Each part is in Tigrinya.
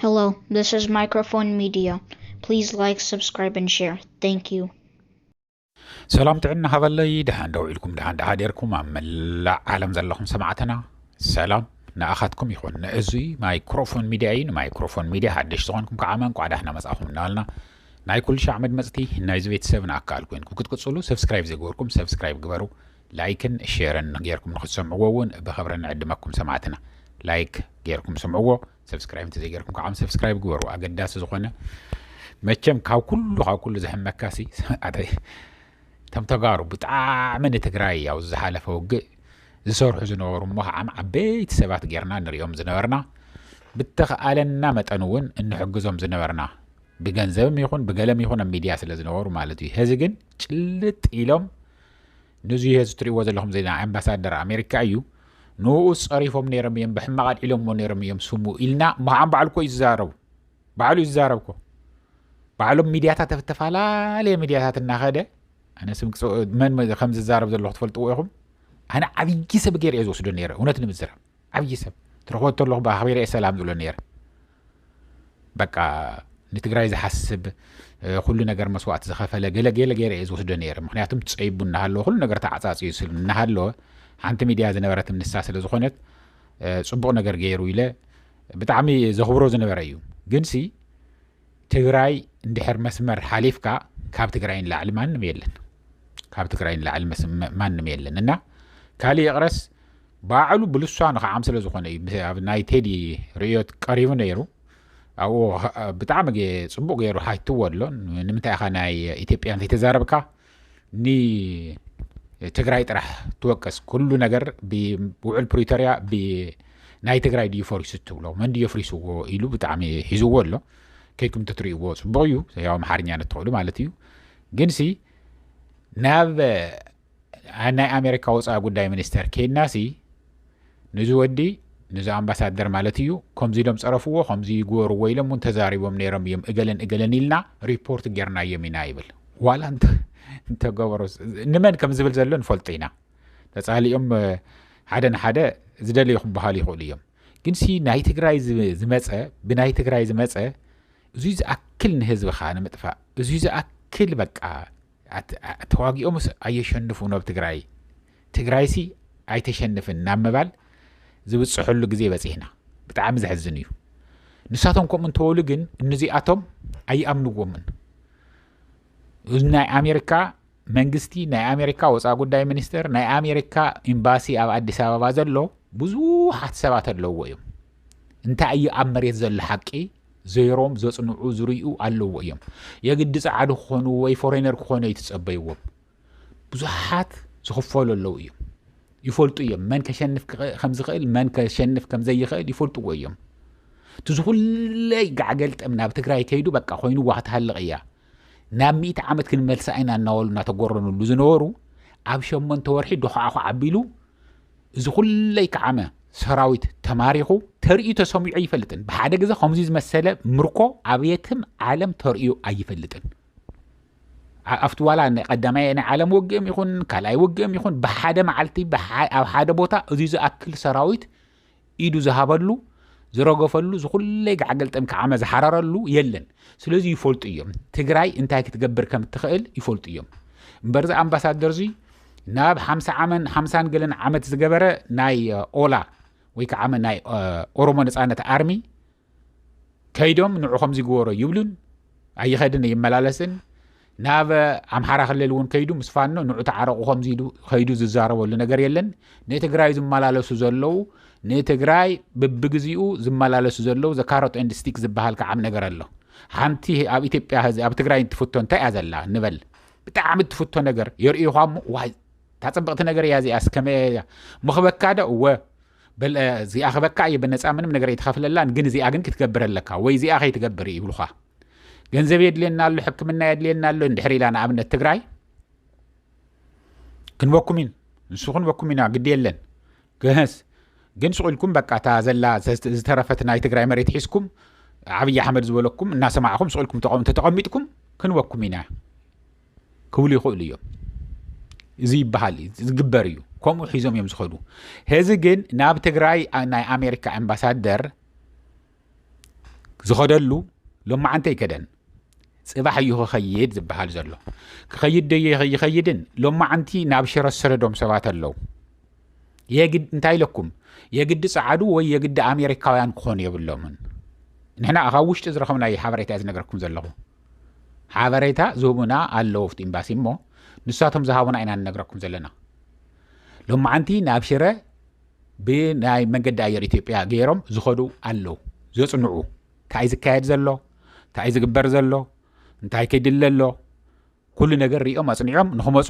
Hello, this is Microphone Media. Please like, subscribe, and share. Thank you. ሰላም ጥዕና ሃበለይ ድሓን ደው ኢልኩም ድሓን ድሓደርኩም ኣብ መላእ ዓለም ዘለኹም ሰማዕትና ሰላም ንኣኻትኩም ይኹን ንእዙይ ማይክሮፎን ሚድያ እዩ ንማይክሮፎን ሚድያ ሓደሽ ዝኾንኩም ከዓ መንቋዕ ዳሕና መፃኹም እናበልና ናይ ኩሉ ሻዕ መድመፅቲ ናይዚ ቤተሰብ ንኣካል ኮይንኩም ክትቅፅሉ ሰብስክራይብ ዘይገበርኩም ሰብስክራይብ ግበሩ ላይክን ሼርን ጌርኩም ንክትሰምዕዎ ውን ብክብሪ ንዕድመኩም ሰማዕትና ላይክ ጌርኩም ስምዕዎ ሰብስክራይብ እንተዘይጌርኩም ከዓ ሰብስክራይብ ግበሩ ኣገዳሲ ዝኮነ መቸም ካብ ኩሉ ካብ ኩሉ ዝሕመካሲ እቶም ተጋሩ ብጣዕሚ ንትግራይ ኣብ ዝሓለፈ ውግእ ዝሰርሑ ዝነበሩ እሞ ከዓ ዓበይቲ ሰባት ጌርና ንሪኦም ዝነበርና ብተኸኣለና መጠን እውን እንሕግዞም ዝነበርና ብገንዘብም ይኹን ብገለም ይኹን ኣብ ሚድያ ስለ ዝነበሩ ማለት እዩ ሕዚ ግን ጭልጥ ኢሎም ንዙ ሄዚ ትርእዎ ዘለኹም ዜና ኣምባሳደር ኣሜሪካ እዩ ንኡ ጸሪፎም ነይሮም እዮም ብሕማቕ ኣልዒሎምዎ ነይሮም እዮም ስሙ ኢልና ምሃን ባዕሉ ኮ ይዛረቡ ባዕሉ ይዛረብ ኮ ባዕሎም ሚድያታት ተፈላለየ ሚድያታት እናኸደ ኣነ ስም መን ከም ዝዛረብ ዘለኹ ትፈልጥዎ ኢኹም ኣነ ዓብዪ ሰብ ገይረ እየ ዝወስዶ ነይረ እውነት ንምዝራብ ዓብዪ ሰብ ትረኽቦ ተለኹ ብኣኽቢረ እየ ሰላም ዝብሎ ነይረ በቃ ንትግራይ ዝሓስብ ኩሉ ነገር መስዋእቲ ዝኸፈለ ገለ ገለ ገይረ እየ ዝወስዶ ነይረ ምክንያቱም ፀይቡ እናሃለወ ኩሉ ነገር ተዓፃፅዩ ስል እናሃለወ ሓንቲ ሚድያ ዝነበረት ንሳ ስለ ዝኾነት ፅቡቕ ነገር ገይሩ ኢለ ብጣዕሚ ዘኽብሮ ዝነበረ እዩ ግን ሲ ትግራይ እንድሕር መስመር ሓሊፍካ ካብ ትግራይ ንላዕሊ ማንም የለን ካብ ትግራይ ንላዕሊ ማንም የለን እና ካልእ ይቕረስ ባዕሉ ብልሳኑ ከዓም ስለ ዝኾነ እዩ ኣብ ናይ ቴዲ ርእዮት ቀሪቡ ነይሩ ኣብኡ ብጣዕሚ ፅቡቅ ገይሩ ሃይትዎ ኣሎ ንምንታይ ኢኻ ናይ ኢትዮጵያ ዘይተዛረብካ ንትግራይ ጥራሕ ትወቅስ ኩሉ ነገር ብውዕል ፕሪቶሪያ ናይ ትግራይ ድዩ ፈሪሱ ትብሎ መን ድዩ ፍሪስዎ ኢሉ ብጣዕሚ ሂዝዎ ኣሎ ከይኩም ተትርእይዎ ፅቡቅ እዩ ያው ኣምሓርኛ ንትኽእሉ ማለት እዩ ግንሲ ናብ ናይ ኣሜሪካ ወፃኢ ጉዳይ ሚኒስተር ኬድናሲ ንዚ ወዲ ንዚ ኣምባሳደር ማለት እዩ ከምዚ ኢሎም ፀረፍዎ ከምዚ ይግበርዎ ኢሎም እውን ተዛሪቦም ነይሮም እዮም እገለን እገለን ኢልና ሪፖርት ጌርናዮም ኢና ይብል ዋላ እንተገበሮ ንመን ከም ዝብል ዘሎ ንፈልጦ ኢና ተፃሊኦም ሓደ ንሓደ ዝደለዩ ክበሃሉ ይኽእሉ እዮም ግን ሲ ናይ ትግራይ ዝመፀ ብናይ ትግራይ ዝመፀ እዙይ ዝኣክል ንህዝብኻ ንምጥፋእ እዙይ ዝኣክል በቃ ተዋጊኦምስ ኣየሸንፉን ኣብ ትግራይ ትግራይሲ ኣይተሸንፍን ናብ ምባል ዝብፅሐሉ ግዜ በፂሕና ብጣዕሚ ዘሕዝን እዩ ንሳቶም ከምኡ እንተበሉ ግን እንዚኣቶም ኣይኣምንዎምን ናይ ኣሜሪካ መንግስቲ ናይ ኣሜሪካ ወፃ ጉዳይ ሚኒስትር ናይ ኣሜሪካ ኤምባሲ ኣብ ኣዲስ ኣበባ ዘሎ ብዙሓት ሰባት ኣለዎ እዮም እንታይ እዩ ኣብ መሬት ዘሎ ሓቂ ዘይሮም ዘጽንዑ ዝርኡ ኣለዎ እዮም የግዲ ጸዓዱ ክኾኑ ወይ ፎሬነር ክኾኑ ኣይትጸበይዎም ብዙሓት ዝኽፈሉ ኣለዉ እዮም ይፈልጡ እዮም መን ከሸንፍ ከምዝኽእል መን ከሸንፍ ከምዘይኽእል ይፈልጥዎ እዮም እቲ ዝኹለይ ጋዕገልጠም ናብ ትግራይ ከይዱ በቃ ኮይኑ ዋክትሃልቕ እያ ናብ ሚእቲ ዓመት ክንመልሳ ኢና እናበሉ እናተጎረንሉ ዝነበሩ ኣብ ሸመንተ ወርሒ ዶኹዓኹ ዓቢሉ እዚ ኩለይ ከዓመ ሰራዊት ተማሪኹ ተርእዩ ተሰሚዑ ኣይፈልጥን ብሓደ ግዜ ከምዚ ዝመሰለ ምርኮ ኣብየትም ዓለም ተርእዩ ኣይፈልጥን ኣብቲ ዋላ ቀዳማይ ናይ ዓለም ውግእም ይኹን ካልኣይ ውግእም ይኹን ብሓደ መዓልቲ ኣብ ሓደ ቦታ እዚ ዝኣክል ሰራዊት ኢዱ ዝሃበሉ ዝረገፈሉ ዝኹለይ ጋዕገልጠም ክዓመ ዝሓረረሉ የለን ስለዚ ይፈልጡ እዮም ትግራይ እንታይ ክትገብር ከም እትኽእል ይፈልጡ እዮም እምበርዚ ኣምባሳደር እዙይ ናብ ሓምሳ ዓመን ሓምሳን ገለን ዓመት ዝገበረ ናይ ኦላ ወይ ከዓ ናይ ኦሮሞ ነፃነት ኣርሚ ከይዶም ንዑ ከምዚ ግበሮ ይብሉን ኣይኸድን ይመላለስን ናብ ኣምሓራ ክልል እውን ከይዱ ምስ ፋኖ ንዑ ተዓረቑ ከምዚ ኢሉ ከይዱ ዝዛረበሉ ነገር የለን ንትግራይ ዝመላለሱ ዘለዉ ንትግራይ ብብግዚኡ ዝመላለሱ ዘለዉ ዘካሮት ኤንድ ስቲክ ዝበሃል ከዓም ነገር ኣሎ ሓንቲ ኣብ ኢትዮጵያ ህዚ ኣብ ትግራይ እትፍቶ እንታይ እያ ዘላ ንበል ብጣዕሚ እትፍቶ ነገር የርእዩኻ እሞ ዋይ ታፅብቕቲ ነገር እያ እዚኣ ስከመ እያ ምኽበካ ዶ እወ በል እዚኣ ክበካ እየ ብነፃ ምንም ነገር ኣይተኸፍለላን ግን እዚኣ ግን ክትገብር ኣለካ ወይ እዚኣ ከይትገብር ይብሉኻ ገንዘብ የድልየና ኣሎ ሕክምና የድልየና ኣሎ እንድሕር ኢላ ንኣብነት ትግራይ ክንበኩም ኢን ንሱ ክንበኩም ኢና ግዲ የለን ግህስ ግን ሱቕ ኢልኩም በቃ እታ ዘላ ዝተረፈት ናይ ትግራይ መሬት ሒዝኩም ዓብዪ ኣሕመድ ዝበለኩም እናሰማዕኹም ሱቕ ኢልኩም ተቐሚጥኩም ክንበኩም ኢና ክብሉ ይኽእሉ እዮም እዚ ይበሃል ዝግበር እዩ ከምኡ ሒዞም እዮም ዝኸዱ ሄዚ ግን ናብ ትግራይ ናይ ኣሜሪካ ኣምባሳደር ዝኸደሉ ሎማዓንቲ ኣይከደን ፅባሕ እዩ ክኸይድ ዝበሃል ዘሎ ክኸይድ ዶ ይኸይድን ሎማዓንቲ ናብ ሽረ ዝሰደዶም ሰባት ኣለዉ የግድ እንታይ ኢለኩም የግዲ ፀዓዱ ወይ የግዲ ኣሜሪካውያን ክኾኑ የብሎምን ንሕና ካብ ውሽጢ ዝረኸብናዮ ሓበሬታ ዝነገርኩም ዘለኹ ሓበሬታ ዝህቡና ኣለዉ ኣብቲ ኤምባሲ እሞ ንሳቶም ዝሃቡና ኢና ንነግረኩም ዘለና ሎማዓንቲ ናብ ሽረ ብናይ መንገዲ ኣየር ኢትዮጵያ ገይሮም ዝኸዱ ኣለዉ ዘፅንዑ እንታይ ዝካየድ ዘሎ እንታይ ዝግበር ዘሎ እንታይ ክድለ ኣሎ ኩሉ ነገር ሪኦም ኣፅኒዖም ንክመፁ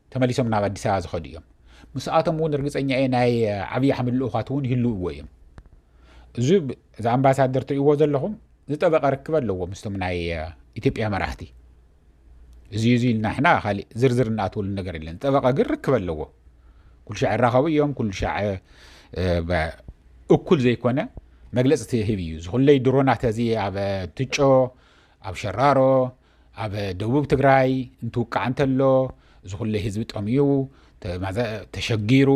ተመሊሶም ናብ ኣዲስ ኣበባ ዝኸዱ እዮም ምስኣቶም እውን ርግፀኛ እየ ናይ ዓብዪ ኣሕመድ ልኡኻት እውን ይህልውዎ እዮም እዚ እዚ ኣምባሳደር ትሪእዎ ዘለኹም ዝጠበቐ ርክብ ኣለዎ ምስቶም ናይ ኢትዮጵያ መራሕቲ እዚ እዚ ኢልና ሕና ካሊእ ዝርዝር እናኣትወሉ ነገር የለን ዝጠበቐ ግን ርክብ ኣለዎ ኩሉ ሻዕ ይራኸቡ እዮም ኩሉ ሻዕ እኩል ዘይኮነ መግለፂ ትህብ እዩ ዝኩለይ ድሮናት እዚ ኣብ ትጮ ኣብ ሸራሮ ኣብ ደቡብ ትግራይ እንትውቃዕ እንተሎ እዚ ኩለይ ህዝቢ ጠምዩ ተሸጊሩ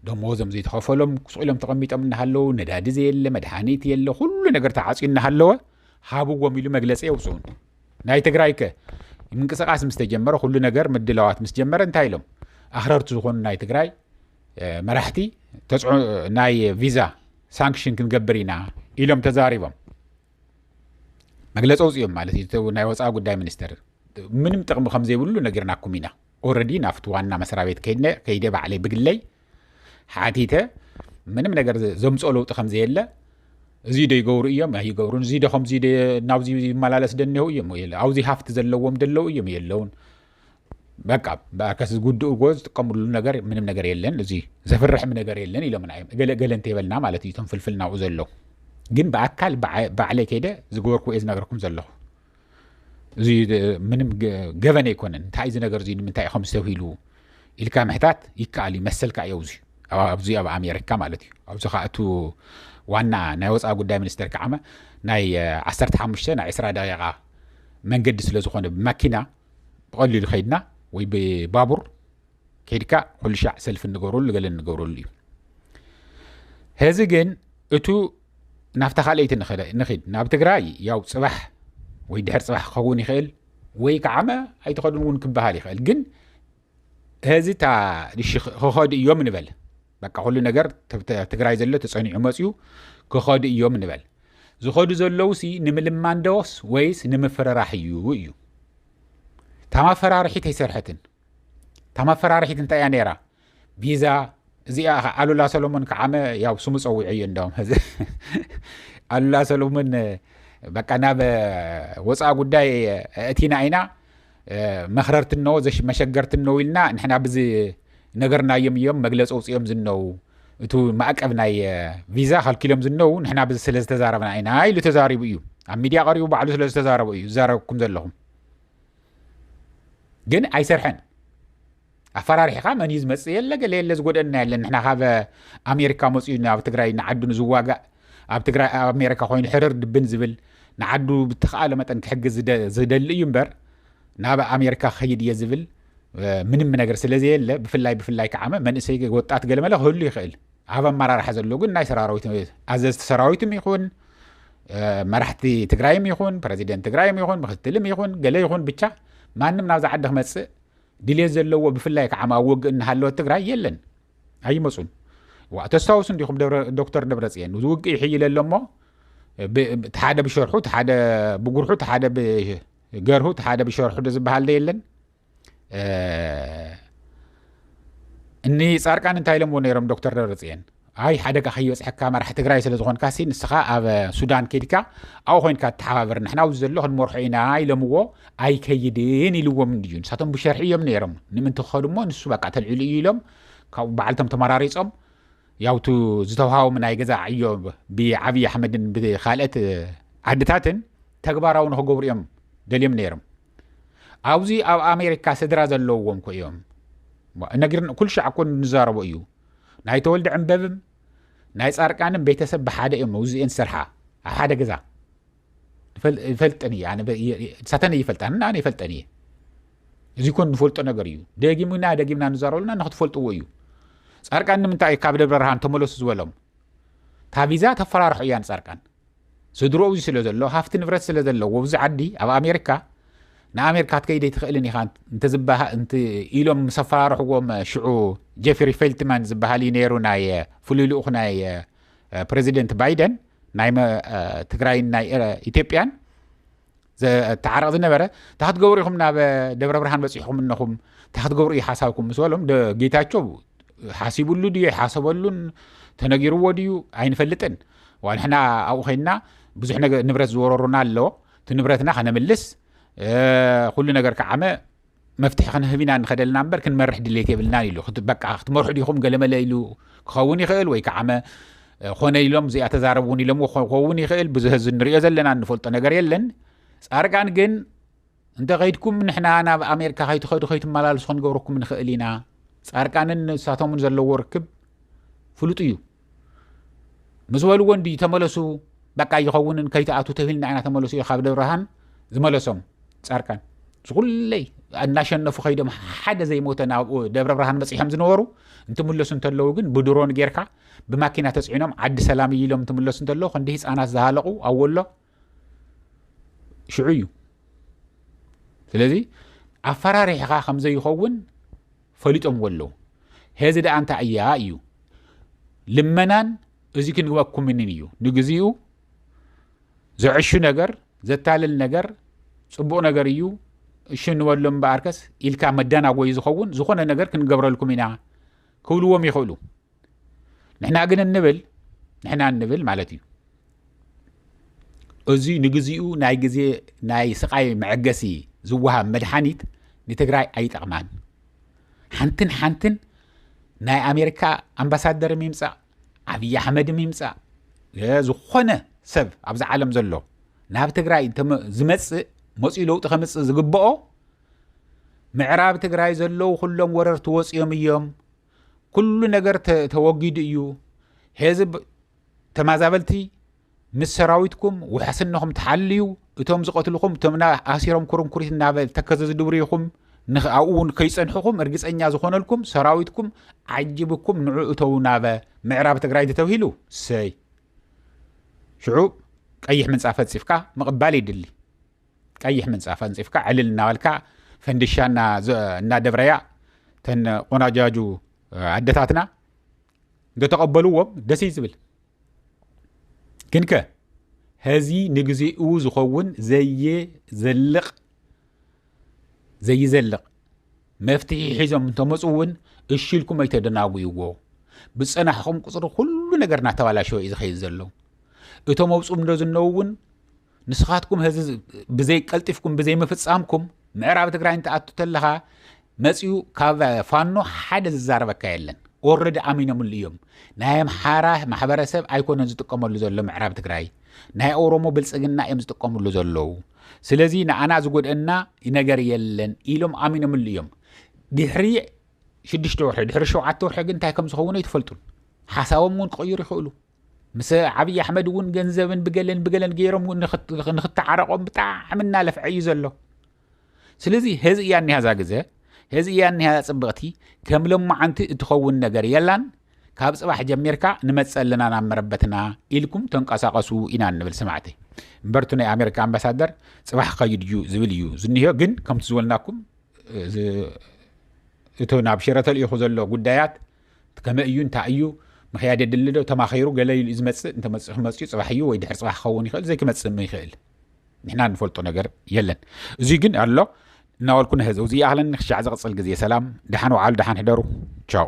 ደሞዞም ዘይተኸፈሎም ቁስቕ ኢሎም ተቐሚጦም እናሃለዉ ነዳዲ ዘየለ መድሃኒት የለ ኩሉ ነገር ተዓፅዩ እናሃለወ ሃብዎም ኢሉ መግለፂ የውፅኡን ናይ ትግራይ ከ ምንቅስቃስ ምስ ተጀመረ ኩሉ ነገር ምድላዋት ምስ ጀመረ እንታይ ኢሎም ኣኽረርቲ ዝኾኑ ናይ ትግራይ መራሕቲ ናይ ቪዛ ሳንክሽን ክንገብር ኢና ኢሎም ተዛሪቦም መግለፂ ኣውፅኦም ማለት እዩ ናይ ወፃኢ ጉዳይ ሚኒስትር ምንም ጥቕሚ ከም ዘይብሉ ነጊርናኩም ኢና ኦረዲ ናብቲ ዋና መስራ ቤት ከይነ ከይደ ባዕለይ ብግለይ ሓቲተ ምንም ነገር ዘምፅኦ ለውጢ ከም ዘየለ እዚ ዶ ይገብሩ እዮም ኣይገብሩን እዚ ዶ ከምዚ ናብዚ ይመላለስ ደኒሆ እዮም የለ ኣብዚ ሃፍቲ ዘለዎም ደለው እዮም የለውን በቃ ብኣርከስ ዝጉድእዎ ዝጥቀምሉ ነገር ምንም ነገር የለን እዚ ዘፍርሕም ነገር የለን ኢሎምና እዮም ገለገለ እንተይበልና ማለት እዩ እቶም ፍልፍል ናብኡ ዘሎ ግን ብኣካል ባዕለይ ከይደ ዝገበርኩ እየ ዝነገርኩም ዘለኹ እዚ ምንም ገበን ኣይኮነን እንታይ እዚ ነገር እዚ ንምንታይ ከም ዝተብሂሉ ኢልካ ምሕታት ይከኣል እዩ መሰልካ እዮ እዚ ኣብዚ ኣብ ኣሜሪካ ማለት እዩ ኣብዚ ከዓ እቱ ዋና ናይ ወፃ ጉዳይ ሚኒስተር ከዓመ ናይ 15 ናይ 20 ደቂቃ መንገዲ ስለ ዝኾነ ብመኪና ብቐሊሉ ከይድና ወይ ብባቡር ከይድካ ኩሉ ሻዕ ሰልፊ እንገብረሉ ገለ እንገብረሉ እዩ ሄዚ ግን እቱ ናብታ ካልኣይቲ ንኽድ ናብ ትግራይ ያው ፅባሕ ወይ ድሕር ፅባሕ ክኸውን ይኽእል ወይ ከዓመ ኣይትኸዱን እውን ክበሃል ይኽእል ግን ሀዚ እታ እሺ ክኸዱ እዮም ንበል በቃ ኩሉ ነገር ትግራይ ዘሎ ተፀኒዑ መፅዩ ክኸዱ እዮም ንበል ዝኸዱ ዘለዉ ሲ ንምልማን ዶስ ወይስ ንምፍርራሕ እዩ እዩ እታ ማፈራርሒት ኣይሰርሐትን እታ ማፈራርሒት እንታይ እያ ነይራ ቪዛ እዚኣ ከ ኣሉላ ሰሎሞን ከዓመ ያው ስሙ ፀዊዑ እዩ እንደውም ሕዚ ኣሉላ ሰሎሞን በቃ ናብ ወፃኢ ጉዳይ እቲና ኢና መክረርቲ እነዎ መሸገርቲ እነዉ ኢልና ንሕና ብዚ ነገርናዮም እዮም መግለፂ ኣውፅኦም ዝነዉ እቱ ማእቀብ ናይ ቪዛ ከልኪሎም ዝነዉ ንሕና ብዚ ስለ ዝተዛረብና ኢና ኢሉ ተዛሪቡ እዩ ኣብ ሚድያ ቀሪቡ ባዕሉ ስለ ዝተዛረቡ እዩ ዝዛረብኩም ዘለኹም ግን ኣይሰርሐን ኣፈራሪሕኻ መን እዩ ዝመፅእ የለ ገለ የለ ዝጎደና የለን ንሕና ካብ ኣሜሪካ መፅኡ ኣብ ትግራይ ንዓዱ ንዝዋጋእ ኣብ ትግራይ ኣብ ኣሜሪካ ኮይኑ ሕርር ድብን ዝብል ንዓዱ ብተኸኣለ መጠን ክሕግዝ ዝደሊ እዩ እምበር ናብ ኣሜሪካ ክኸይድ እየ ዝብል ምንም ነገር ስለዘየለ ብፍላይ ብፍላይ ከዓመ መንእሰይ ወጣት ገለመለ ክህሉ ይኽእል ኣብ ኣመራርሓ ዘሎ ግን ናይ ሰራዊት ኣዘዝቲ ሰራዊትም ይኹን መራሕቲ ትግራይም ይኹን ፕረዚደንት ትግራይም ይኹን ምክትልም ይኹን ገለ ይኹን ብቻ ማንም ናብዛ ዓዲ ክመፅእ ድሌት ዘለዎ ብፍላይ ከዓ ኣብ ውግእ እናሃለወት ትግራይ የለን ኣይመፁን ዋ ተስታውሱ እንዲኹም ዶክተር ደብረፅየን እዚ ውግእ ይሕይለ ኣሎ እሞ ሓደ ብሸርሑ ሓደ ብጉርሑ ሓደ ብገርሁ ሓደ ብሸርሑ ዶ ዝበሃል ዶ የለን እኒ ፃርቃን እንታይ ኢሎምዎ ነይሮም ዶክተር ደብረፅየን ኣይ ሓደጋ ከይበፅሐካ መራሒ ትግራይ ስለ ዝኾንካ ሲ ንስኻ ኣብ ሱዳን ከድካ ኣብኡ ኮይንካ ተሓባበር ንሕና ኣብዚ ዘሎ ክንመርሖ ኢና ኢሎምዎ ኣይከይድን ኢልዎም እንድዩ ንሳቶም ብሸርሒ እዮም ነይሮም ንምንቲ ክኸዱ እሞ ንሱ በቃ ተልዒሉ እዩ ኢሎም ካብኡ በዓልቶም ተመራሪፆም ያውቱ ዝተውሃቦም ናይ ገዛ ዕዮ ብዓብዪ ኣሕመድን ብካልኦት ዓድታትን ተግባራዊ ንክገብሩ እዮም ደልዮም ነይሮም ኣብዚ ኣብ ኣሜሪካ ስድራ ዘለዎም ኮ እዮም ነጊር ኩሉ ሻዕ ኮ ንዛረቦ እዩ ናይ ተወልደ ዕምበብም ናይ ፃርቃንም ቤተሰብ ብሓደ እዮም መውዝኤን ዝሰርሓ ኣብ ሓደ ገዛ ይፈልጠን እየ ንሳተን ይፈልጣን እና ኣነ ይፈልጠን እየ እዚ ኮን ንፈልጦ ነገር እዩ ደጊምና ደጊምና ንዛረበሉና ንክትፈልጥዎ እዩ ፃርቃን ንምንታይ እዩ ካብ ደብረ ብርሃን ተመለሱ ዝበሎም ታቪዛ ተፈራርሑ እያ ንፃርቃን ስድርኡ እዚ ስለ ዘሎ ሃፍቲ ንብረት ስለ ዘለዎ እዚ ዓዲ ኣብ ኣሜሪካ ንኣሜሪካ ክትከይድ ኣይትኽእልን ኢኻ እንተ ኢሎም ምስ ኣፈራርሕዎም ሽዑ ጀፍሪ ፌልትማን ዝበሃል እዩ ነይሩ ናይ ፍሉይ ልኡኽ ናይ ፕረዚደንት ባይደን ናይ ትግራይን ናይ ኢትዮጵያን ዘተዓረቕ ዝነበረ እንታ ክትገብሩ ኢኹም ናብ ደብረ ብርሃን በፂሕኹም እነኹም እንታ ክትገብሩ እዩ ሓሳብኩም ምስ በሎም ጌታቸው ሓሲብሉ ድዩ ሓሰበሉን ተነጊርዎ ድዩ ኣይንፈልጥን ዋንሕና ኣብኡ ኮይንና ብዙሕ ንብረት ዝወረሩና ኣሎ እቲ ንብረትና ከነምልስ ኩሉ ነገር ከዓመ መፍትሒ ክንህብ ኢና ንኸደልና እምበር ክንመርሕ ድሌት የብልናን ኢሉ በቃ ክትመርሑ ዲኹም ገለመለ ኢሉ ክኸውን ይኽእል ወይ ከዓመ ኮነ ኢሎም እዚኣ ተዛረብ እውን ኢሎምዎ ክኸውን ይኽእል ብዙ ህዚ ንሪኦ ዘለና እንፈልጦ ነገር የለን ፃርቃን ግን እንተ ከይድኩም ንሕና ናብ ኣሜሪካ ከይትኸዱ ከይትመላለሱ ክንገብረኩም ንኽእል ኢና ፃርቃንን ንሳቶምን ዘለዎ ርክብ ፍሉጡ እዩ ምስ በልዎ እንድዩ ተመለሱ በቃ ኣይኸውንን ከይትኣቱ ተብልና ኢና ተመለሱ እዩ ካብ ደብርሃን ዝመለሶም ፃርቃን ዝኩለይ እናሸነፉ ከይዶም ሓደ ዘይሞተ ናብኡ ደብረ ብርሃን መፅሖም ዝነበሩ እንትምለሱ እንተለዉ ግን ብድሮን ጌርካ ብማኪና ተፅዒኖም ዓዲ ሰላም እዩ ኢሎም እንትምለሱ እንተለዉ ክንዲ ህፃናት ዝሃለቑ ኣወሎ ሽዑ እዩ ስለዚ ኣፈራሪሕኻ ከም ዘይኸውን ፈሊጦምዎ ኣለዉ ሄዚ ደኣ እንታይ እያ እዩ ልመናን እዚ ክንግበኩምንን እዩ ንግዚኡ ዘዕሹ ነገር ዘታልል ነገር ፅቡቕ ነገር እዩ እሺ ንበሎ እምበኣርከስ ኢልካ መዳናጎዩ ዝኸውን ዝኾነ ነገር ክንገብረልኩም ኢና ክብልዎም ይኽእሉ ንሕና ግን እንብል ንሕና እንብል ማለት እዩ እዚ ንግዚኡ ናይ ግዜ ናይ ስቃይ መዐገሲ ዝወሃብ መድሓኒት ንትግራይ ኣይጠቕማን ሓንትን ሓንትን ናይ ኣሜሪካ ኣምባሳደር ይምፃእ ዓብዪ ኣሕመድ ይምፃእ ዝኾነ ሰብ ኣብዚ ዓለም ዘሎ ናብ ትግራይ ዝመፅእ መፅኡ ለውጢ ከምፅእ ዝግብኦ ምዕራብ ትግራይ ዘለዉ ኩሎም ወረርቲ ወፂኦም እዮም ኩሉ ነገር ተወጊዱ እዩ ሄዚ ተማዛበልቲ ምስ ሰራዊትኩም ውሕስነኹም ተሓልዩ እቶም ዝቐትልኹም እቶም ኣሲሮም ኩርንኩሪት እናበ ተከዘ ዝድብርኹም ኣብኡ እውን ከይፀንሕኹም እርግፀኛ ዝኾነልኩም ሰራዊትኩም ዓጅብኩም ንዑ እተው ናበ ምዕራብ ትግራይ ተተብሂሉ ሰይ ሽዑ ቀይሕ ምንፃፍ ፈፂፍካ ምቕባል ይድሊ ቀይሕ ምንፃፍ ኣንፂፍካ ዕልል እናበልካ ፈንድሻ እናደብረያ ተን ቆናጃጁ ኣደታትና እንተተቐበልዎም ደስ እዩ ዝብል ግን ከ ሀዚ ንግዜኡ ዝኸውን ዘይዘልቕ ዘይዘልቕ መፍትሒ ሒዞም እንተመፁ እውን እሽልኩም ኣይተደናጉይዎ ብፀናሕኹም ቁፅሪ ኩሉ ነገር እናተባላሸወ እዩ ዝኸይድ ዘሎ እቶም ኣብፁም ዶ ዝነው እውን ንስኻትኩም ህዚ ብዘይ ቀልጢፍኩም ብዘይ ምፍጻምኩም ምዕራብ ትግራይ እንትኣቱ ተለኻ መፅኡ ካብ ፋኖ ሓደ ዝዛረበካ የለን ኦረዲ ኣሚኖምሉ እዮም ናይ ኣምሓራ ማሕበረሰብ ኣይኮነን ዝጥቀመሉ ዘሎ ምዕራብ ትግራይ ናይ ኦሮሞ ብልፅግና እዮም ዝጥቀምሉ ዘለዉ ስለዚ ንኣና ዝጎድአና ነገር የለን ኢሎም ኣሚኖምሉ እዮም ድሕሪ ሽዱሽተ ወርሒ ድሕሪ ሸውዓተ ወርሒ ግን እንታይ ከም ዝኸውን ኣይትፈልጡን ሓሳቦም እውን ክቕይሩ ይኽእሉ ምስ ዓብዪ ኣሕመድ እውን ገንዘብን ብገለን ብገለን ገይሮም ንክተዓረቆም ብጣዕሚ እናለፍዐ እዩ ዘሎ ስለዚ ሄዚ እያ እኒሃዛ ግዘ ሄዚ እያ እኒሃዛ ፅብቕቲ ከም ሎማዓንቲ እትኸውን ነገር የላን ካብ ፅባሕ ጀሚርካ ንመፀ ኣለና ናብ መረበትና ኢልኩም ተንቀሳቀሱ ኢና እንብል ሰማዕቲ እምበርቱ ናይ ኣሜሪካ ኣምባሳደር ፅባሕ ከይድ እዩ ዝብል እዩ ዝኒሆ ግን ከምቲ ዝበልናኩም እቲ ናብ ሽረ ተልኢኹ ዘሎ ጉዳያት እቲ ከመይ እዩ እንታይ እዩ ምክያድ የድሊ ዶ ተማኺሩ ገለ ኢሉ እዩ ዝመፅእ እንተመፅኡ ክመፅኡ ፅባሕ እዩ ወይ ድሕር ፅባሕ ክኸውን ይኽእል ዘይክመፅእ ም ይኽእል ንሕና ንፈልጦ ነገር የለን እዙይ ግን ኣሎ እናበልኩ ንሕዘው ዝይኣኽለኒ ክሻዕ ዝቕፅል ግዜ ሰላም ደሓን ወዓሉ ደሓን ሕደሩ ቻው